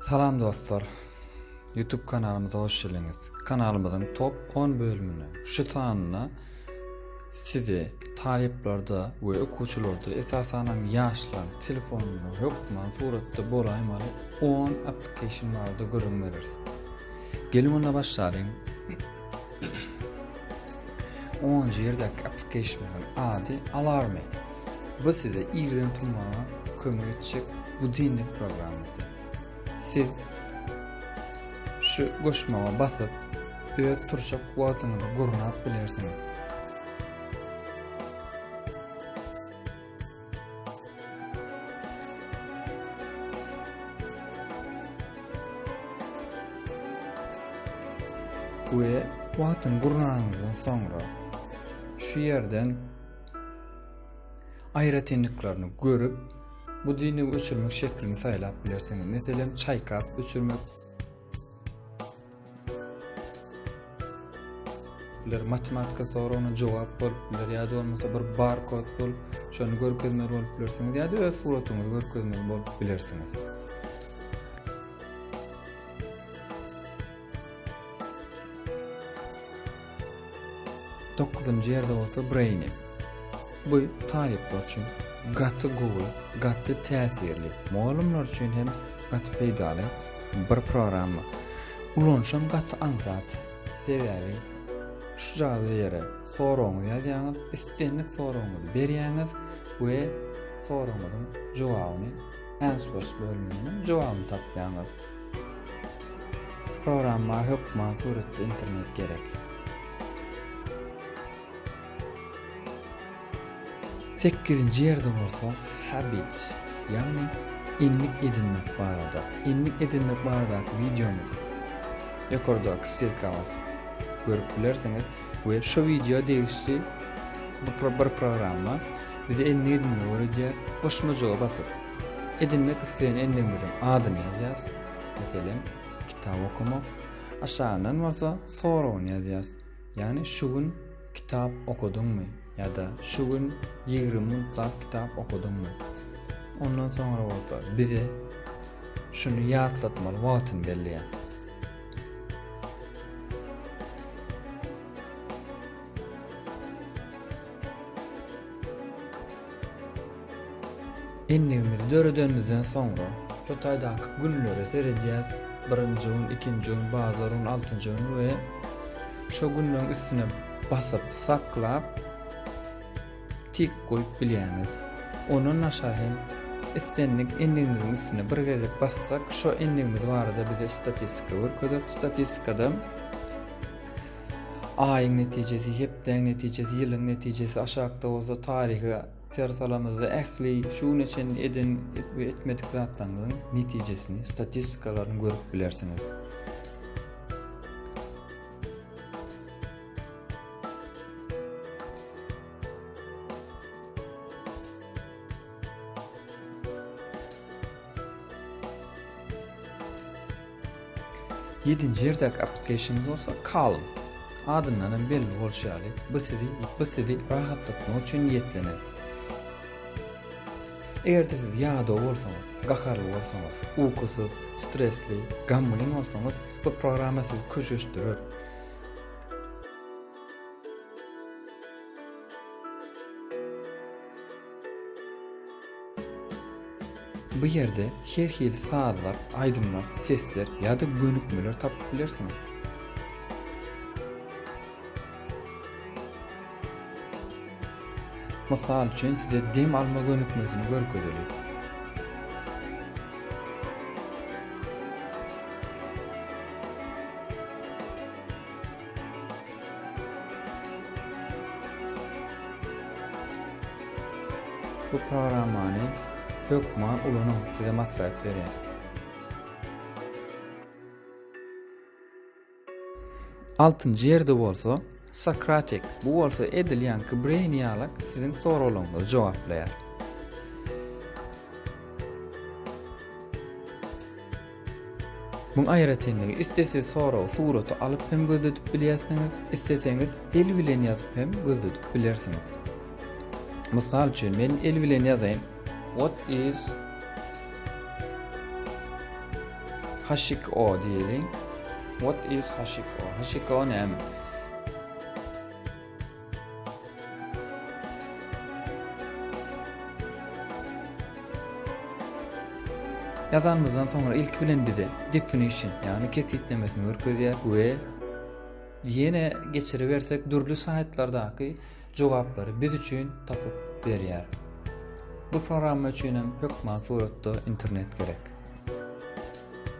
Salam dostlar! Youtube kanalymyza hoş geldiňiz. Kanalymyzyň top on bölümine, şu sanyna sizi talyplarda we okuwçylarda esasanam ýaşlaryň telefonynda hökman suratda bolaýmaly on application barada gürrüň bereris. Geliň onda başlalyň. Onunjy ýerdäki application-yň ady Alarmy. Bu size irden turmaga kömek etjek budinnik programmasy. Siz şu goşmaga basyp, öz turşak wagtyňyzy gurnap bilersiňiz. we wagtyny gurnanymyzdan soňra şu ýerden aýratynlyklaryny görüp, bu dini öçürmek şeklini saýlap bilersiňiz. Meselem, çaýkap öçürmek, biler, matematika soragyna jogap bolup biler ýa-da bolmasa bir barkod bolup, şony görkezmeli bolup bilersiňiz ýa-da öz suratyňyzy görkezmeli bolup bilersiňiz. Dokuzynjy ýerde bolsa Brainy. Bu talyplar üçin gaty gowy, gaty täsirli, mugallymlar üçin hem gaty peýdaly bir programma. Ulanyşam gaty aňsat. Sebäbi şu jaýda ýere soragyňyzy ýazýaňyz, islendik soragyňyzy berýäňiz we soragyňyzyň jogabyny answers bölüminden jogabyny tapýaňyz. Programma hökman suratly internet gerek. Sekizinji ýerde bolsa habits, ýagny endik edinmek barada. Endik edinmek baradaky wideomyzy ýokardaky ssilka basyp görüp bilersiňiz we şu wideo degişli bir programma bize endik edinmegi öwredýär. Goşmajaga basyp Edinmek isleýän endigimiziň adyny ýazýarys, meselem, Kitap okamak, aşagyndan bolsa soragyny ýazýarys, ýagny şu gün kitap okadyňmy ýa-da şu gün ýigrimi minutlap kitap okadyňmy? Ondan soňra bolsa bize şuny ýatlatmaly wagtyny belleýär. Endigimizi döredenimizden soňra şu taýdaky günlere seredýäs, birinji gün, ikinji gün, bazar gün, altynjy gün we şu günleriň üstüne basyp, saklap tik goýup bilýäňiz. Ondan aşar hem islendik endigimiziň üstüne bir gezek bassak, şo endigimiz barada bize statistika görkezer. Statistikada aýyň netijesi, hepdäň netijesi, ýylyň netijesi, aşakda bolsa taryhy Ter salamyzda ähli şu güne çenli eden we etmedik zatlaryňyzyň netijesini, statistikalaryny görüp bilersiňiz. Ýedinji ýerdäki application-yňyz bolsa Calm. Adyndan hem belli bolşy ýaly, bu sizi bu sizi rahatlatmak üçin niýetlenen. Eger-de siz ýadaw bolsaňyz, gaharly bolsaňyz, ukusyz, stresli, gamgyn bolsaňyz, bu programma sizi köşeşdirer. Bu ýerde her hili sazlar, aýdymlar, sesler ýa-da gönükmeler tapyp bilersiňiz. Mysal üçin size dem alma gönükmesini görkezeli. Bu programmany hökma ulanyň size maslahat berýär. Altynjy ýerde bolsa Socratic, bu bolsa edilýän Kibreýn ýalak siziň soraglaryňyzy jogaplaýar. Muň aýratynlygy, isle siz soragy suraty alyp hem gözledip bilýärsiňiz, isleseňiz el bilen ýazyp hem gözledip bilersiňiz. Mysal üçin, men el bilen ýazaýyn. What is Hashiko diýeliň. What is Hashiko? Hashiko näme? Ýazanymyzdan soňra ilki bilen bize definition ýagny kesgitlemesini görkezýär we ýene geçiribersek dürli saýtlardaky jogaplary biz üçin tapyp berýär. Bu programma üçin hem hökman suratda internet gerek.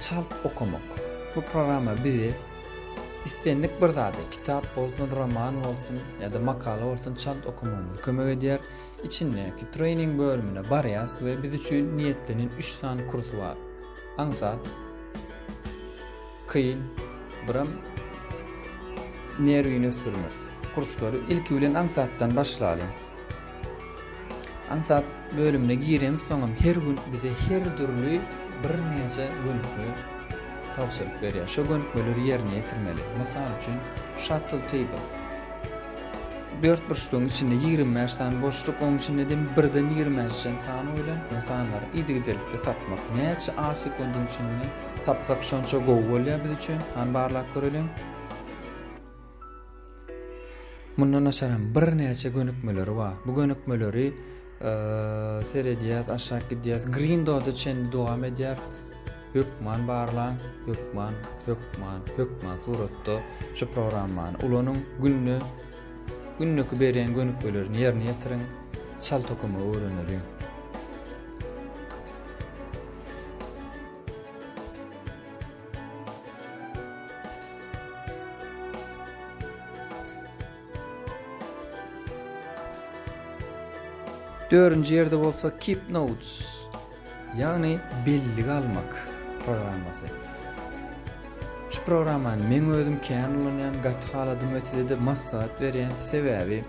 Çalt okamak. Bu programma bize islendik bir zady, kitap bolsun, roman bolsun ýa-da makala bolsun çalt okamagymyza kömek edýär. Içindäki trening bölümine barýas we biz üçin niýetlenen üç sany kurs bar. Aňsat, kyn, biram nerwini ösdürmek. Kurslary ilki bilen aňsatdan başlalyň. Aňsat bölümine girensoňam her gün bize her dürli birnäçe gönükme tabşyryk berýär. Şo gönükmeleri ýerine ýetirmeli. Mysal üçin, Shuttle Table. Dörtburçlugyň içinde ýigrimi bäş sany boşluk, onuň içinde dem birden ýigrimi bäşe çenli san goýlan. Bu sanlary yzygiderlikde tapmak. Näçe A sekundyň içinde tapsak şonça gowy bolýar biz üçin. Hany barlap göreliň. Mundan daşaram birnäçe gönükmeleri bar. Bu gönükmeleri seredýäs, aşak gidýäs. Green Doda çenli dowam edýär. Hökman barlaň, hökman, hökman, hökman suratda şu programmany ulanyň. Günde gündeki berýän gönükmelerini ýerine ýetiriň. Çal tokumy öwreneliň. Dördünji ýerde bolsa Keep Notes, ýagny bellige almak programmasy. Şu programmany men özüm kän ulanýan, gaty haladym we size-de maslahat berýän, sebäbi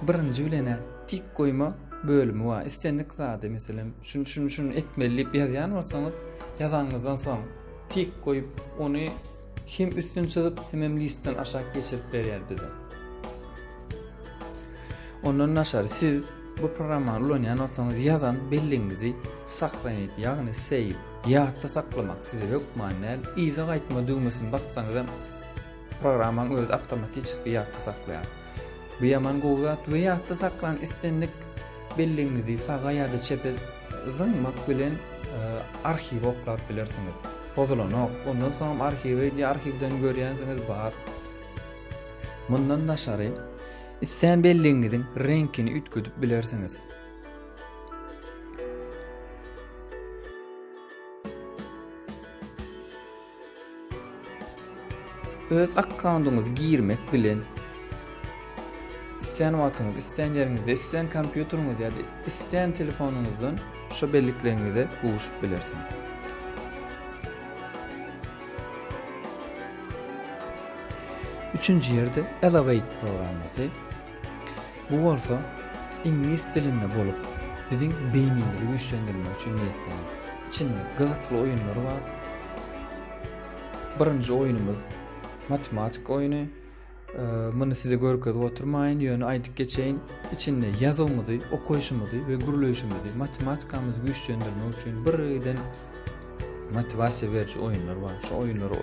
Birinji bilen-ä tik goýma bölümi bar. Islendik zady, meselem, şuny, şuny, şuny etmeli diýip ýazýan bolsaňyz, ýazanyňyzdan soň tik goýup, ony hem üstüni çyzyp, hemem listden aşak geçirip berýär bize. Ondan daşary siz bu programmany ulanýan bolsaňyz, ýazan belligiňizi sahranit, ýagny save, ýatda saklamak size hökman däl. Yza gaýtma düwmesini bassaňyzam, Programmaň özi awtomatiçeski ýatda saklaýar. Bu ýaman gowy zat we ýatda saklan islendik belligiňizi saga ýa-da çepe zyňmak bilen arhiwi oklap bilersiňiz. Pozulanok. Ondan soňam arhiwi diýýär, arhiwden görýänsiňiz bar. Mundan daşary, islän belligiňiziň reňkini üýtgedip bilersiňiz. Öz akkaundyňyzy girmek bilen islän wagtyňyz, islän ýeriňizde, islän kompýuteriňiz ýa-da islän telefonyňyzdan şu bellikleriňize gowuşyp bilersiňiz. Üçünji ýerde Elevate programmasy. Bu bolsa iňlis dilinde bolup, biziň beýnimizi güýçlendirmek üçin niýetlenen. Içinde gyzykly oýunlar bar. Birinji oýnumyz matematika oýny. Muny size görkezip oturmaýyn, ýöne aýdyp geçeýin. Içinde ýazuwymyzy, okaýşymyzy we gürleýşimizi, matematikamyzy güýçlendirmek üçin birden motiwasiýa beriji oýunlar bar. Şu oýunlary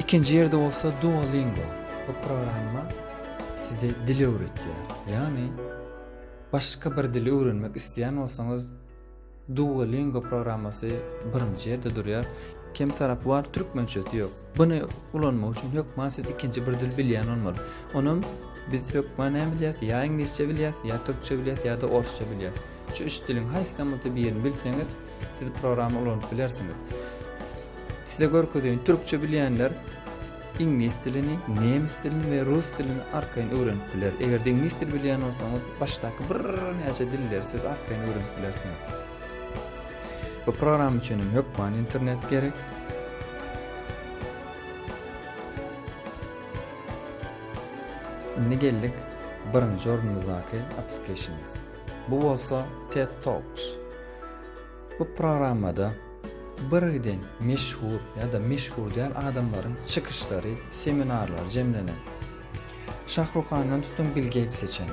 Ikinji ýerde bolsa Duolingo. Bu programma size dil öwretýär. Ýagny başga bir dili öwrenmek isleýän bolsaňyz Duolingo programmasy birinji ýerde durýar. Kem tarapy bar, türkmençesi ýok. Buny ulanmak üçin hökman siz ikinji bir dil bilýän bolmaly. Onam biz hökman näme bilýäs? Ýa iňlisçe bilýäs, ýa türkçe bilýäs, ýa-da orsça bilýäs. Şu üç diliň haýsydan bolsa birini bilseňiz, siz programma ulanyp bilersiňiz. Size görkezeýin, türkçe bilýänler iňlis dilini, nemes dilini we rus dilini arkaýyn öwrenip biler. Eger-de iňlis dil bilýän bolsaňyz, başdaky birnäçe dilleri siz arkaýyn öwrenip bilersiňiz. Bu program üçin hem hökman internet gerek. Indi geldik birinji orunymyzdaky applicationymyz. Bu bolsa TED Talks. Bu programmada birden meşhur ya da meşhur däl adamlaryň çykyşlary, seminarlary jemlenen. Şahruhandan tutun Bill Gates'e çenli.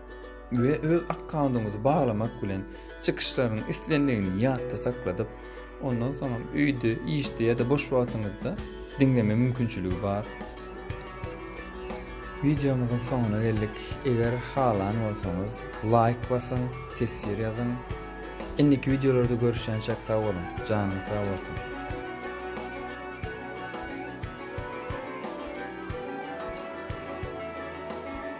we öz akkaundyňyzy baglamak bilen çykyşlaryň islendigini ýatda sakladyp, ondan soňam öýde, işde ýa-da boş wagtyňyzda diňleme mümkinçiligi bar. Wideomyzyň soňuna geldik. Eger halan bolsaňyz, laýk basyň, teswir ýazyň. Indiki wideolarda görüşýänçäk sag boluň, janyňyz sag bolsun.